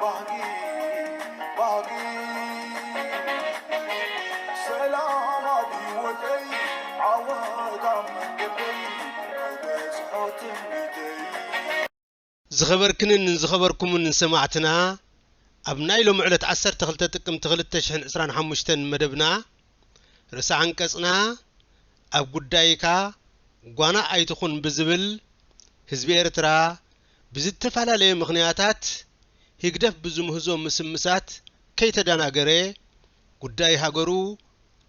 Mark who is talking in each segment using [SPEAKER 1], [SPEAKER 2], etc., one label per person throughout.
[SPEAKER 1] ባህጊ ባህጊ ሰላም ኣብ ሂወተይ ዓወት ኣብ መንገደይ ክበጽሖ ትምኒተይ ዝኸበርክንን ን ዝኸበርኩምን ን ሰማዕትና ኣብ ናይ ሎሚ ዕለት ዓሰርተ ክልተ ጥቅምቲ ክልተ ሽሕን ዕስራን ሓሙሽተን መደብና ርእሰ ዓንቀጽና ኣብ ጉዳይካ ጓና ኣይትኹን ብዝብል ህዝቢ ኤርትራ ብዝተፈላለየ ምኽንያታት ህግደፍ ብዝምህዞ ምስምሳት ከይተደናገረ ጉዳይ ሃገሩ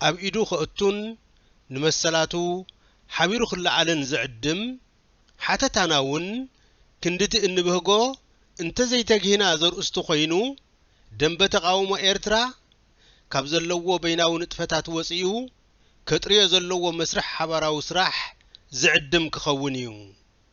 [SPEAKER 1] ኣብ ኢዱ ከእቱን ንመሰላቱ ሓቢሩ ክለዓልን ዝዕድም ሓተታና እውን ክንድቲ እንብህጎ እንተዘይተግሂና ዘርእስቱ ኮይኑ ደምበ ተቓውሞ ኤርትራ ካብ ዘለዎ በይናዊ ንጥፈታት ወጺኡ ከጥርዮ ዘለዎ መስርሕ ሓባራዊ ስራሕ ዝዕድም ክኸውን እዩ።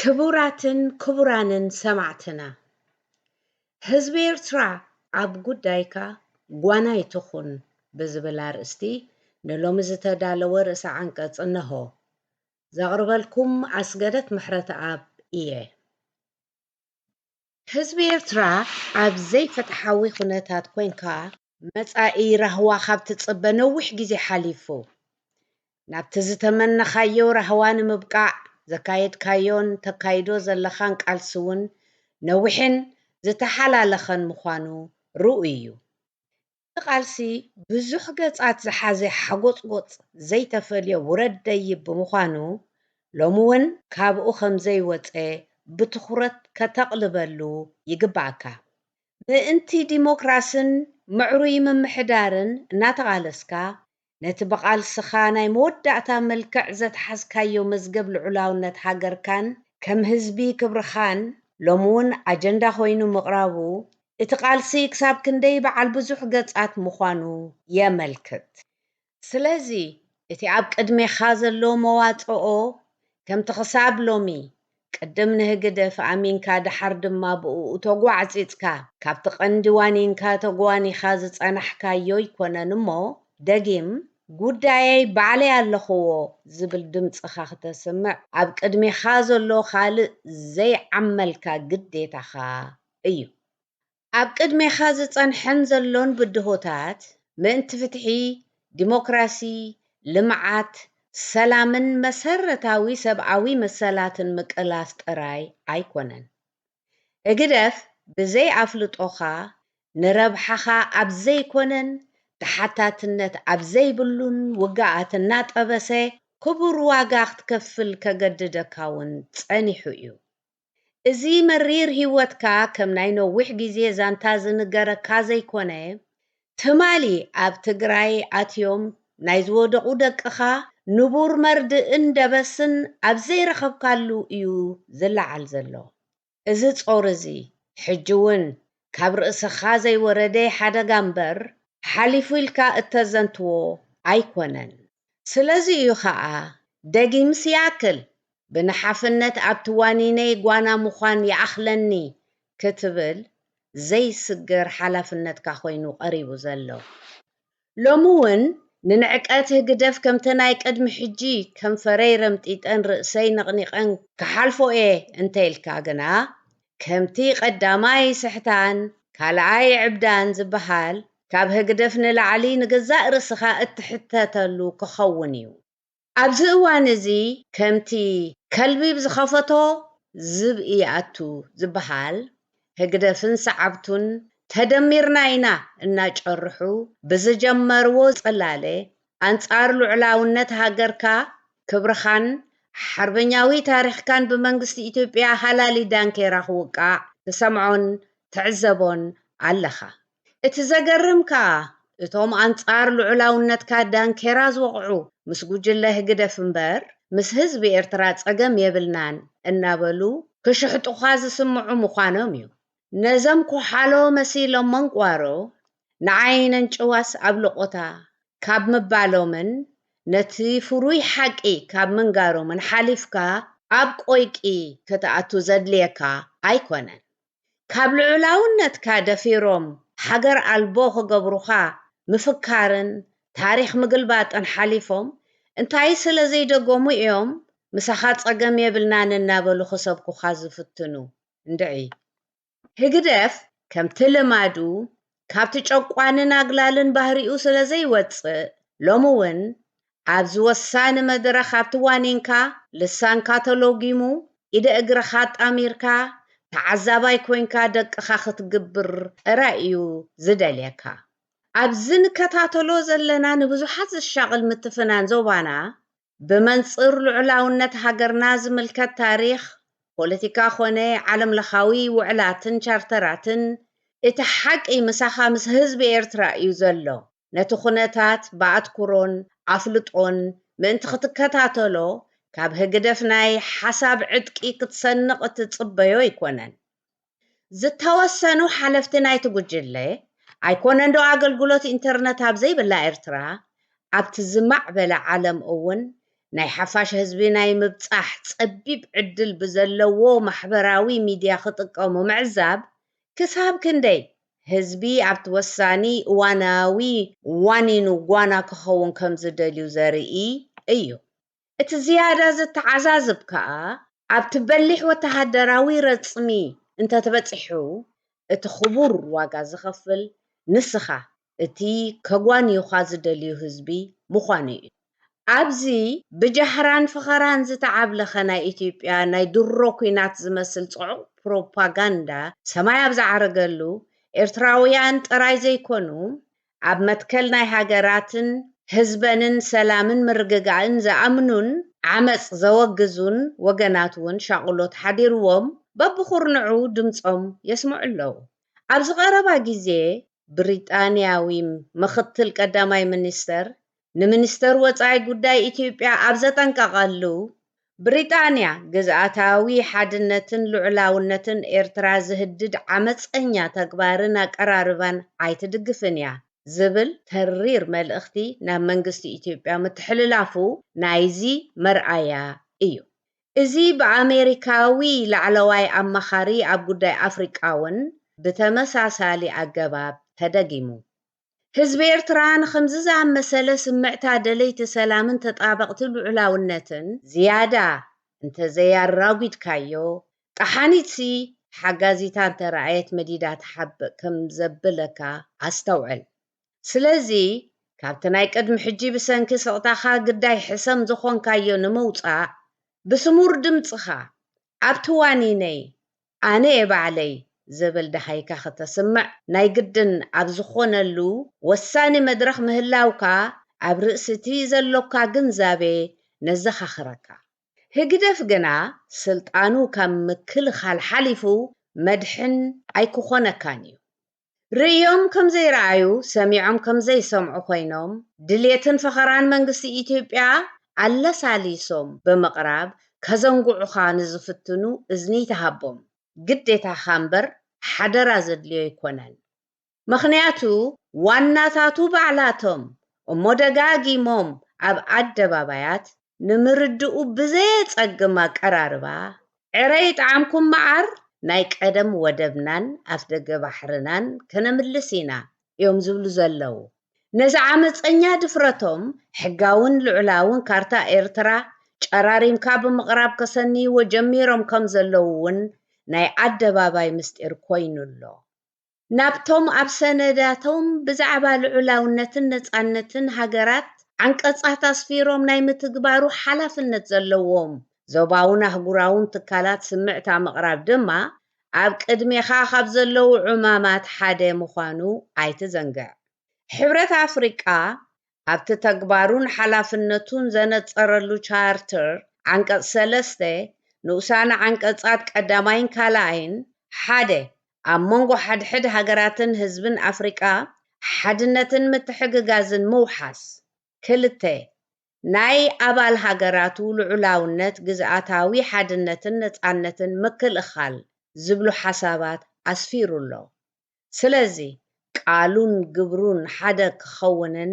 [SPEAKER 2] ክቡራትን ክቡራንን ሰማዕትና ህዝቢ ኤርትራ ኣብ ጉዳይካ ጓና ኣይትኹን ብዝብል ኣርእስቲ ንሎሚ ዝተዳለወ ርእሰ ዓንቀጽ እነሆ። ዘቕርበልኩም ኣስገደት ምሕረተኣብ ኢየ። ህዝቢ ኤርትራ ኣብ ዘይፍትሓዊ ኩነታት ኮንካ መጻኢ ራህዋ ካብ ትጽበ ነዊሕ ግዜ ሓሊፉ። ናብቲ ዝተመነኻዮ ራህዋ ንምብቃዕ ዘካየድካዮን ተካይዶ ዘለኻን ቃልሲ ውን ነዊሕን ዝተሓላለኸን ምዃኑ ርኡይ እዩ። እቲ ቃልሲ ብዙሕ ገጻት ዝሓዘ ሓጎጽጎጽ ዘይተፈልዮ ውረድ ደይብ ብምዃኑ ሎሚ ውን ካብኡ ከምዘይወጸ ብትኹረት ከተቕልበሉ ይግበኣካ። ምእንቲ ዲሞክራስን ምዕሩይ ምምሕዳርን እናተቓለስካ ነቲ ብቓልስኻ ናይ መወዳእታ መልክዕ ዘትሓዝካዮ መዝገብ ልዑላውነት ሃገርካን ከም ህዝቢ ክብርኻን ሎሚ ውን ኣጀንዳ ኮይኑ ምቕራቡ እቲ ቓልሲ ክሳብ ክንደይ በዓል ብዙሕ ገጻት ምዃኑ የመልክት። ስለዚ እቲ ኣብ ቅድሜኻ ዘሎ መዋጽኦ ከምቲ ክሳብ ሎሚ ቅድም ንህግደፍ ኣሚንካ ደሓር ድማ ብእኡ ተጓዕጺጽካ ካብቲ ቀንዲ ዋኒንካ ተጓኒኻ ዝጸናሕካዮ ኣይኮነን እሞ ደጊም ጉዳየይ ባዕለይ ኣለኹዎ ዝብል ድምጽኻ ክተስምዕ ኣብ ቅድሜኻ ዘሎ ካልእ ዘይዓመልካ ግዴታኻ እዩ ኣብ ቅድሜኻ ዝጸንሐን ዘሎን ብድሆታት ምእንቲ ፍትሒ፣ ዲሞክራሲ፣ ልምዓት፣ ሰላምን መሰረታዊ ሰብኣዊ መሰላትን ምቅላስ ጥራይ ኣይኮነን። ህግደፍ ብዘይ ኣፍልጦኻ ንረብሓኻ ኣብ ዘይኮነን ተሓታትነት ኣብ ዘይብሉን ውግኣት እናጠበሰ ክቡር ዋጋ ክትከፍል ከገድደካ'ውን ጸኒሑ'ዩ። እዚ መሪር ህይወትካ ከም ናይ ነዊሕ ግዜ ዛንታ ዝንገረካ ዘይኮነ፣ ትማሊ ኣብ ትግራይ ኣትዮም ናይ ዝወደቑ ደቅኻ ንቡር መርድእን ደበስን ኣብ ዘይረኸብካሉ እዩ ዝለዓል ዘሎ። እዚ ጾር እዚ ሕጂ እውን ካብ ርእስኻ ዘይወረደ ሓደጋ እምበር ሓሊፉ ኢልካ እተዘንትዎ ኣይኮነን። ስለዚ እዩ ኸኣ ደጊም ሲያትል ብንሓፍነት ኣብቲ ዋኒነይ ጓና ምዃን ይኣኽለኒ ክትብል ዘይስገር ሓላፍነትካ ኰይኑ ቀሪቡ ዘሎ። ሎሚ እውን ንንዕቀት ህግደፍ ከምቲ ናይ ቅድሚ ሕጂ ከንፈረይ ረምጢጠን ርእሰይ ነቕኒቐን ክሓልፎ እየ እንተኢልካ ግና ከምቲ ቀዳማይ ስሕታን ካልኣይ ዕብዳን ዝበሃል ካብ ህግደፍ ንላዕሊ ንገዛእ ርእስኻ እትሕተተሉ ክኸውን እዩ። ኣብዚ እዋን እዚ ከምቲ ከልቢ ብዝኸፈቶ ዝብኢ ይኣቱ ዝበሃል ህግደፍን ሰዓብቱን ተደሚርና ኢና እናጨርሑ ብዝጀመርዎ ጽላለ ኣንጻር ሉዕላውነት ሃገርካ፣ ክብርኻን ሓርበኛዊ ታሪኽካን ብመንግስቲ ኢትዮጵያ ሃላሊ ዳንኬራ ክውቃዕ ትሰምዖን ትዕዘቦን ኣለኻ። እቲ ዘገርም ከኣ እቶም ኣንጻር ልዑላውነትካ ዳንኬራ ዝወቕዑ ምስ ጉጅለ ህግደፍ እምበር ምስ ህዝቢ ኤርትራ ጸገም የብልናን እናበሉ ክሽሕጡኻ ዝስምዑ ምዃኖም እዩ። ነዞም ኮሓሎ መሲሎም መንቋሮ ንዓይ ነንጭዋስ ኣብ ሎቖታ ካብ ምባሎምን ነቲ ፍሩይ ሓቂ ካብ ምንጋሮምን ሓሊፍካ ኣብ ቆይቂ ክትኣቱ ዘድልየካ ኣይኮነን። ካብ ልዑላውነትካ ደፊሮም ሃገር ኣልቦ ክገብሩኻ ምፍካርን ታሪኽ ምግልባጥን ሓሊፎም እንታይ ስለ ዘይደገሙ እዮም ምሳኻ ጸገም የብልናን እናበሉ ክሰብኩኻ ዝፍትኑ? እንድዒ ህግደፍ ከምቲ ልማዱ ካብቲ ጨቋንን ኣግላልን ባህሪኡ ስለ ዘይወጽእ ሎሚ ውን ኣብዚ ወሳኒ መድረኽ ኣብቲ ዋኒንካ ልሳንካ ተሎጊሙ ኢደ እግርኻ ኣጣሚርካ ተዓዛባይ ኮንካ ደቅኻ ክትግብር ጥራይ እዩ ዝደልየካ። ኣብዚ ንከታተሎ ዘለና ንብዙሓት ዘሻቕል ምትፍናን ዞባና ብመንጽር ልዑላውነት ሃገርና ዝምልከት ታሪኽ፣ ፖለቲካ ኮነ ዓለምለኻዊ ውዕላትን ቻርተራትን፣ እቲ ሓቂ ምሳኻ ምስ ህዝቢ ኤርትራ እዩ ዘሎ። ነቲ ኩነታት ብኣትኩሮን ኣፍልጦን ምእንቲ ክትከታተሎ ካብ ህግደፍ ናይ ሓሳብ ዕጥቂ ክትሰንቕ እትጽበዮ ኣይኮነን። ዝተወሰኑ ሓለፍቲ ናይቲ ጉጅለ፣ ኣይኮነንዶ ኣገልግሎት ኢንተርነት ኣብ ዘይብላ ኤርትራ፣ ኣብቲ ዝማዕበለ ዓለም እውን ናይ ሓፋሽ ህዝቢ ናይ ምብጻሕ ጸቢብ ዕድል ብዘለዎ ማሕበራዊ ሚድያ ክጥቀሙ ምዕዛብ ክሳብ ክንደይ ህዝቢ ኣብቲ ወሳኒ እዋናዊ ዋኒኑ ጓና ክኸውን ከምዝደልዩ ዘርኢ እዩ። እቲ ዝያዳ ዘተዓዛዝብ ከኣ ኣብቲ በሊሕ ወተሃደራዊ ረጽሚ እንተ ተበጺሑ እቲ ክቡር ዋጋ ዝኸፍል ንስኻ እቲ ከጓንዩኻ ዝደልዩ ህዝቢ ምዃኑ ኢዩ። ኣብዚ ብጃህራን ፈኸራን ዝተዓብለኸ ናይ ኢትዮጵያ ናይ ድሮ ኲናት ዝመስል ጽዑቕ ፕሮፓጋንዳ ሰማይ ኣብ ዝዓረገሉ ኤርትራውያን ጥራይ ዘይኮኑ ኣብ መትከል ናይ ሃገራትን ህዝበንን ሰላምን ምርግጋእን ዝኣምኑን ዓመጽ ዘወግዙን ወገናት እውን ሻቕሎት ሓዲርዎም በብኹርንዑ ድምጾም የስምዑ ኣለዉ። ኣብዚ ቀረባ ግዜ ብሪጣንያዊም ምኽትል ቀዳማይ ሚኒስተር ንሚኒስተር ወጻኢ ጉዳይ ኢትዮጵያ ኣብ ዘጠንቀቐሉ፣ ብሪጣንያ ግዝኣታዊ ሓድነትን ልዑላውነትን ኤርትራ ዝህድድ ዓመጸኛ ተግባርን ኣቀራርባን ኣይትድግፍን እያ ዝብል ተሪር መልእኽቲ ናብ መንግስቲ ኢትዮጵያ ምትሕልላፉ ናይዚ መርኣያ እዩ። እዚ ብኣሜሪካዊ ላዕለዋይ ኣማኻሪ ኣብ ጉዳይ ኣፍሪቃ'ውን ብተመሳሳሊ ኣገባብ ተደጊሙ። ህዝቢ ኤርትራ ንኸምዚ ዝኣመሰለ ስምዕታ ደለይቲ ሰላምን ተጣበቕቲ ልዑላውነትን ዝያዳ እንተዘይ ኣራጒድካዮ፣ ጠሓኒትሲ ተሓጋዚታ እንተረኣየት መዲዳ ትሓብእ ከም ዘብለካ ኣስተውዕል። ስለዚ ካብቲ ናይ ቅድሚ ሕጂ ብሰንኪ ስቕታኻ ግዳይ ሕሰም ዝኾንካዮ ንምውጻእ፣ ብስሙር ድምጽኻ ኣብቲ ዋኒነይ ኣነ'የ ባዕለይ ዝብል ደሃይካ ክተስምዕ ናይ ግድን ኣብ ዝኾነሉ ወሳኒ መድረኽ ምህላውካ ኣብ ርእሲ'ቲ ዘሎካ ግንዛቤ ነዘኻኽረካ። ህግደፍ ግና ስልጣኑ ካብ ምክልኻል ሓሊፉ መድሕን ኣይክኾነካን'ዩ። ርእዮም ከም ዘይረኣዩ ሰሚዖም ከም ዘይሰምዑ ኮይኖም ድሌትን ፈኸራን መንግስቲ ኢትዮጵያ ኣለሳሊሶም ብምቕራብ ከዘንግዑኻ ንዝፍትኑ እዝኒ ተሃቦም ግዴታኻ እምበር ሓደራ ዘድልዮ ኣይኮነን። ምኽንያቱ ዋናታቱ ባዕላቶም እሞ ደጋጊሞም ኣብ ኣደባባያት ንምርድኡ ብዘየጸግም ኣቀራርባ፣ ዕረ ይጥዓምኩም መዓር ናይ ቀደም ወደብናን ኣፍደገ ባሕርናን ከነምልስ ኢና እዮም ዝብሉ ዘለዉ። ነዚ ዓመጸኛ ድፍረቶም ሕጋውን ልዑላውን ካርታ ኤርትራ ጨራሪምካ ብምቕራብ ከሰንይዎ ጀሚሮም ከም ዘለዉ እውን ናይ ኣደባባይ ምስጢር ኮይኑ ኣሎ። ናብቶም ኣብ ሰነዳቶም ብዛዕባ ልዑላውነትን ነጻነትን ሃገራት ዓንቀጻት ኣስፊሮም ናይ ምትግባሩ ሓላፍነት ዘለዎም ዞባውን ኣህጉራውን ትካላት ስምዕታ ምቕራብ ድማ ኣብ ቅድሜኻ ካብ ዘለዉ ዕማማት ሓደ ምዃኑ ኣይትዘንግዕ። ሕብረት ኣፍሪቃ ኣብቲ ተግባሩን ሓላፍነቱን ዘነጸረሉ ቻርተር ዓንቀጽ ሰለስተ ንኡሳነ ዓንቀጻት ቀዳማይን ካልኣይን፣ ሓደ። ኣብ መንጎ ሓድሕድ ሃገራትን ህዝብን ኣፍሪቃ ሓድነትን ምትሕግጋዝን ምውሓስ፣ ክልተ። ናይ ኣባል ሃገራቱ ልዑላውነት፣ ግዝኣታዊ ሓድነትን ነጻነትን ምክልኻል ዝብሉ ሓሳባት ኣስፊሩ ኣሎ። ስለዚ ቃሉን ግብሩን ሓደ ክኸውንን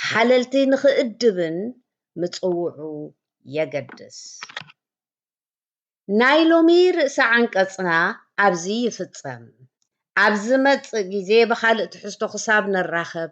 [SPEAKER 2] ሓለልቲ ንኽእድብን ምጽውዑ የገድስ። ናይ ሎሚ ርእሰ ዓንቀጽና ኣብዚ ይፍጸም። ኣብ ዝመጽእ ግዜ ብኻልእ ትሕዝቶ ክሳብ ንራኸብ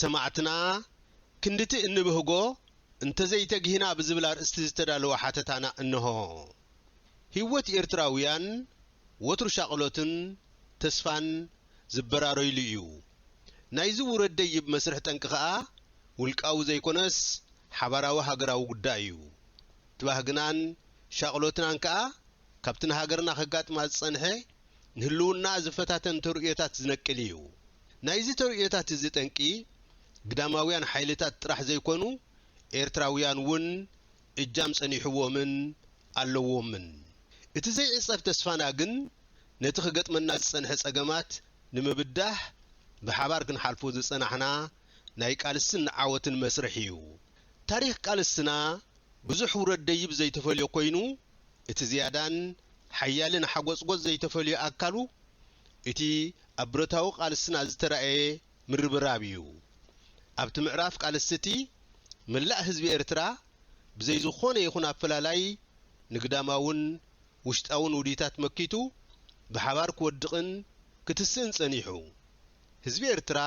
[SPEAKER 1] ሰማዕትና ክንድቲ እንብህጎ እንተዘይተግሂና ብዝብል ኣርእስቲ ዝተዳለወ ሓተታና እነሆ። ሂወት ኤርትራውያን ወትሩ ሻቕሎትን ተስፋን ዝበራረዩሉ እዩ። ናይዚ ውረድ ደይብ መስርሕ ጠንቂ ከኣ ውልቃዊ ዘይኮነስ ሓባራዊ ሃገራዊ ጉዳይ እዩ። ባህግናን ሻቕሎትናን ከኣ ካብቲ ንሃገርና ከጋጥማ ዝጸንሐ ንህልውናኣ ዝፈታተን ተርእዮታት ዝነቅል እዩ። ናይዚ ተርእዮታት እዚ ጠንቂ ግዳማውያን ሓይልታት ጥራሕ ዘይኮኑ ኤርትራውያን እውን እጃም ጸኒሑዎምን ኣለዎምን። እቲ ዘይዕጸፍ ተስፋና ግን ነቲ ክገጥመና ዝጸንሐ ጸገማት ንምብዳህ ብሓባር ክንሓልፎ ዝጸናሕና ናይ ቃልስን ዓወትን መስርሕ ኢዩ። ታሪኽ ቃልስና ብዙሕ ውረድ ደይብ ዘይተፈልዮ ኮይኑ እቲ ዝያዳን ሓያልን ሓጎጽጎጽ ዘይተፈልዮ ኣካሉ እቲ ኣብ ብረታዊ ቃልስና ዝተራእየ ምርብራብ ኢዩ። ኣብቲ ምዕራፍ ቃልስ'ቲ መላእ ህዝቢ ኤርትራ ብዘይ ዝኾነ ይኹን ኣፈላላይ ንግዳማውን ውሽጣውን ውዲታት መኪቱ ብሓባር ክወድቕን ክትስእን ጸኒሑ። ህዝቢ ኤርትራ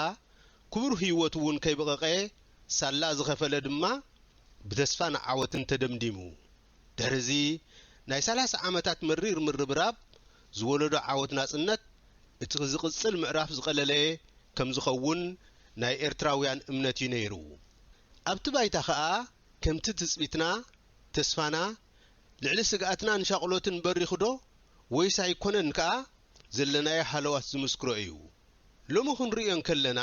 [SPEAKER 1] ክቡር ህይወቱ እውን ከይብቐቐ ሳላ ዝኸፈለ ድማ ብተስፋን ዓወትን ተደምዲሙ። ድሕሪ እዚ ናይ ሰላሳ ዓመታት መሪር ምርብራብ ዝወለዶ ዓወት ናጽነት እቲ ዝቕጽል ምዕራፍ ዝቐለለ ከምዝኸውን ናይ ኤርትራውያን እምነት እዩ ነይሩ። ኣብቲ ባይታ ከኣ ከምቲ ትጽቢትና፣ ተስፋና፣ ልዕሊ ስግኣትናን ሻቕሎትን በሪኹዶ? ወይስ ኣይኮነን ከኣ ዘለናዮ ሃለዋት ዝምስክሮ እዩ። ሎሚ ክንርእዮ እንከለና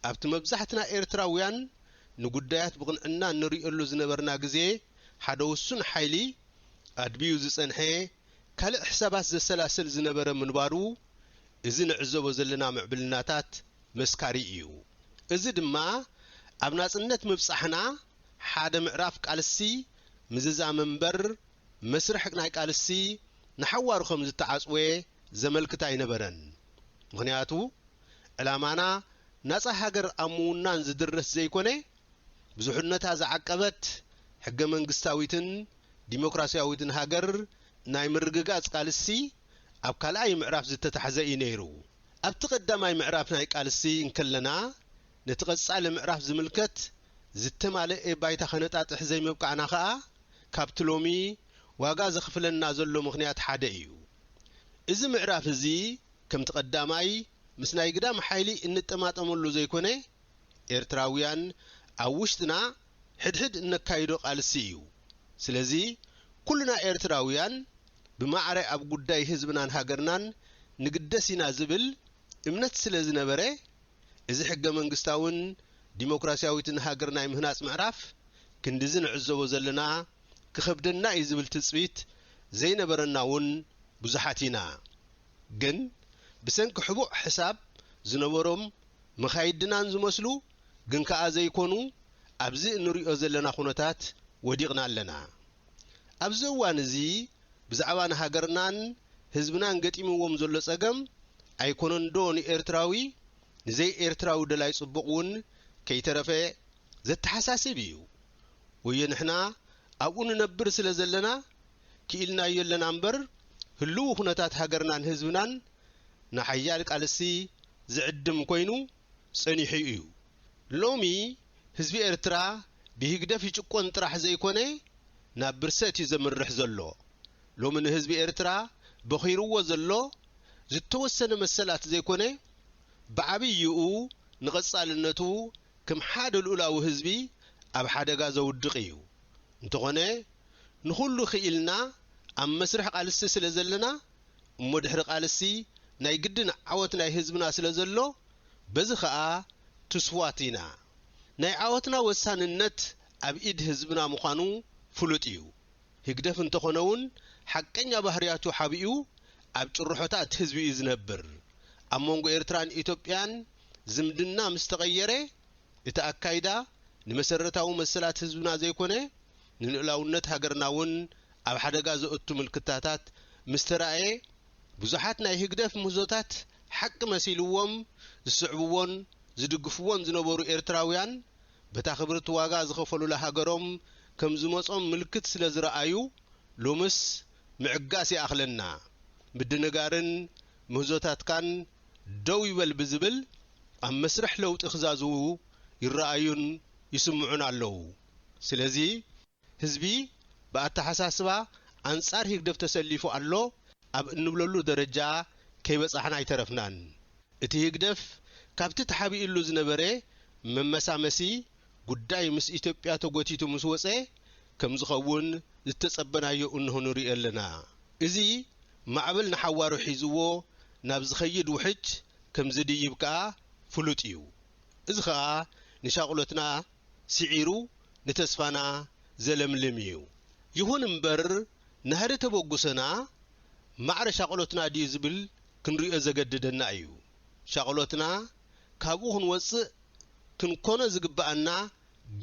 [SPEAKER 1] ኣብቲ መብዛሕትና ኤርትራውያን ንጉዳያት ብቕንዕና እንርእየሉ ዝነበርና ግዜ ሓደ ውሱን ሓይሊ ኣድብዩ ዝጸንሐ ካልእ ሕሳባት ዘሰላስል ዝነበረ ምንባሩ እዚ ንዕዘቦ ዘለና ምዕብልናታት መስካሪ እዩ። እዚ ድማ ኣብ ናጽነት ምብጻሕና ሓደ ምዕራፍ ቃልሲ ምዝዛም'ምበር መስርሕ ናይ ቃልሲ ንሓዋሩ ከም ዝተዓጽወ ዘመልክት ኣይነበረን። ምኽንያቱ ዕላማና ናጻ ሃገር ኣብ ምውናን ዝድርት ዘይኮነ፣ ብዙሕነታ ዝዓቀበት ሕገ-መንግስታዊትን ዲሞክራሲያዊትን ሃገር ናይ ምርግጋጽ ቃልሲ ኣብ ካልኣይ ምዕራፍ ዝተታሕዘ እዩ ነይሩ። ኣብቲ ቀዳማይ ምዕራፍ ናይ ቃልሲ እንከለና ነቲ ቀጻሊ ምዕራፍ ዝምልከት ዝተማለኤ ባይታ ከነጣጥሕ ዘይምብቃዕና ከኣ፣ ካብቲ ሎሚ ዋጋ ዘኽፍለና ዘሎ ምኽንያት ሓደ እዩ። እዚ ምዕራፍ እዚ ከምቲ ቀዳማይ ምስ ናይ ግዳም ሓይሊ እንጠማጠመሉ ዘይኮነ ኤርትራውያን ኣብ ውሽጥና ሕድሕድ እነካይዶ ቃልሲ እዩ። ስለዚ ኩልና ኤርትራውያን ብማዕረ ኣብ ጉዳይ ህዝብናን ሃገርናን ንግደስ ኢና ዝብል እምነት ስለ ዝነበረ፣ እዚ ሕገ-መንግስታዊን ዲሞክራሲያዊትን ሃገር ናይ ምህናጽ ምዕራፍ፣ ክንድዚ ንዕዘቦ ዘለና ክኸብደና እዩ ዝብል ትጽቢት ዘይነበረና እውን ብዙሓት ኢና። ግን ብሰንኪ ሕቡእ ሕሳብ ዝነበሮም መኻይድናን ዝመስሉ ግን ከኣ ዘይኮኑ ኣብዚ እንርእዮ ዘለና ኩነታት ወዲቕና ኣለና። ኣብዚ እዋን እዚ ብዛዕባ ንሃገርናን ህዝብናን ገጢምዎም ዘሎ ጸገም ኣይኮነንዶ ንኤርትራዊ ንዘይ ኤርትራዊ ደላይ ጽቡቕ ውን ከይተረፈ ዘተሓሳስብ ኢዩ። ወዮ ንሕና ኣብኡ ንነብር ስለ ዘለና ክኢልናዮ ኣለና እምበር ህልዊ ኩነታት ሃገርናን ህዝብናን ንሓያል ቃልሲ ዝዕድም ኮይኑ ጸኒሑ ኢዩ። ሎሚ ህዝቢ ኤርትራ ብሂግደፍ ይጭቆን ጥራሕ ዘይኮነ ናብ ብርሰት እዩ ዘምርሕ ዘሎ። ሎሚ ንህዝቢ ኤርትራ በኺርዎ ዘሎ ዝተወሰነ መሰላት ዘይኮነ ብዓብይኡ ንቐጻልነቱ ከም ሓደ ልኡላዊ ህዝቢ ኣብ ሓደጋ ዘውድቕ እዩ። እንተኾነ ንኹሉ ክኢልና ኣብ መስርሕ ቓልሲ ስለ ዘለና እሞ ድሕሪ ቓልሲ ናይ ግድን ዓወት ናይ ህዝብና ስለ ዘሎ በዚ ከኣ ትስዋት ኢና። ናይ ዓወትና ወሳንነት ኣብ ኢድ ህዝብና ምዃኑ ፍሉጥ እዩ። ህግደፍ እንተኾነውን ሓቀኛ ባህርያቱ ሓቢኡ ኣብ ጭርሖታት ህዝቢ እዩ ዝነብር። ኣብ መንጎ ኤርትራን ኢትዮጵያን ዝምድና ምስ ተቐየረ እቲ ኣካይዳ ንመሰረታዊ መሰላት ህዝብና ዘይኮነ ንልኡላውነት ሃገርናውን ኣብ ሓደጋ ዘእቱ ምልክታታት ምስ ተራእየ ብዙሓት ናይ ህግደፍ ምህዞታት ሓቂ መሲልዎም ዝስዕብዎን ዝድግፍዎን ዝነበሩ ኤርትራውያን፣ በታ ክብርቲ ዋጋ ዝኸፈሉላ ሃገሮም ከም ዝመጾም ምልክት ስለ ዝረኣዩ፣ ሎምስ ምዕጋስ ይኣኽለና፣ ምድንጋርን ምህዞታትካን ደው ይበል ብዝብል ኣብ መስርሕ ለውጢ ክዛዝዉ ይረኣዩን ይስምዑን ኣለዉ። ስለዚ። ህዝቢ ብኣተሓሳስባ ኣንጻር ሂግደፍ ተሰሊፉ ኣሎ ኣብ እንብለሉ ደረጃ ከይበጻሕና ኣይተረፍናን። እቲ ሂግደፍ ካብቲ ተሓቢእሉ ዝነበረ መመሳመሲ ጉዳይ ምስ ኢትዮጵያ ተጎቲቱ ምስ ወጸ ከምዝኸውን ዝተጸበናዮ እንሆ ንርእዮ ኣለና። እዚ ማዕበል ንሓዋሩ ሒዝዎ ናብ ዝኸይድ ውሕጅ ከምዝድይብ ከኣ ፍሉጥ እዩ። እዚ ከኣ ንሻቕሎትና ስዒሩ ንተስፋና ዘለምልም እዩ። ይኹን እምበር ናህሪ ተበጉሶና ማዕረ ሻቕሎትና ድዩ ዝብል ክንሪኦ ዘገድደና እዩ። ሻቕሎትና ካብኡ ክንወጽእ ክንኮኖ ዝግበኣና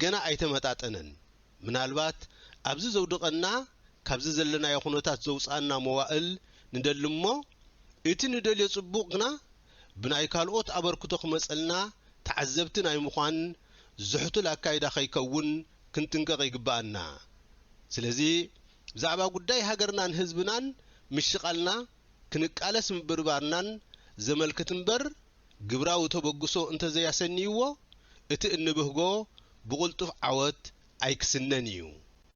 [SPEAKER 1] ገና ኣይተመጣጠነን። ምናልባት ኣብዚ ዘውድቐና ካብዚ ዘለናዮ ኩነታት ዘውጽኣና መዋእል ንደሊ እሞ እቲ ንደልዮ ጽቡቕ ግና ብናይ ካልኦት ኣበርክቶ ክመጸልና ተዓዘብቲ ናይ ምዃን ዝሕቱል ኣካይዳ ከይከውን ክንጥንቀቕ ይግበኣና። ስለዚ ብዛዕባ ጉዳይ ሃገርናን ህዝብናን ምሽቓልና ክንቃለስ ምብርባርናን ዘመልክት እምበር ግብራዊ ተበግሶ እንተዘይኣሰንይዎ እቲ እንብህጎ ብቕልጡፍ ዓወት ኣይክስነን ኢዩ።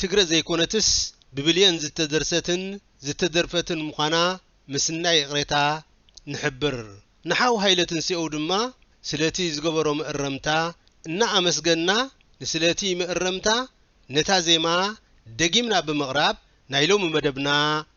[SPEAKER 1] ትግረ ዘይኮነትስ ብብልየን ዝተደርሰትን ዝተደርፈትን ምዃና ምስናይ ይቕሬታ ንሕብር። ንሓው ሃይለ ትንሴኡ ድማ ስለቲ ዝገበሮ መእረምታ እናኣመስገንና ንስለቲ መእረምታ ነታ ዜማ ደጊምና ብምቕራብ ናይ ሎሚ መደብና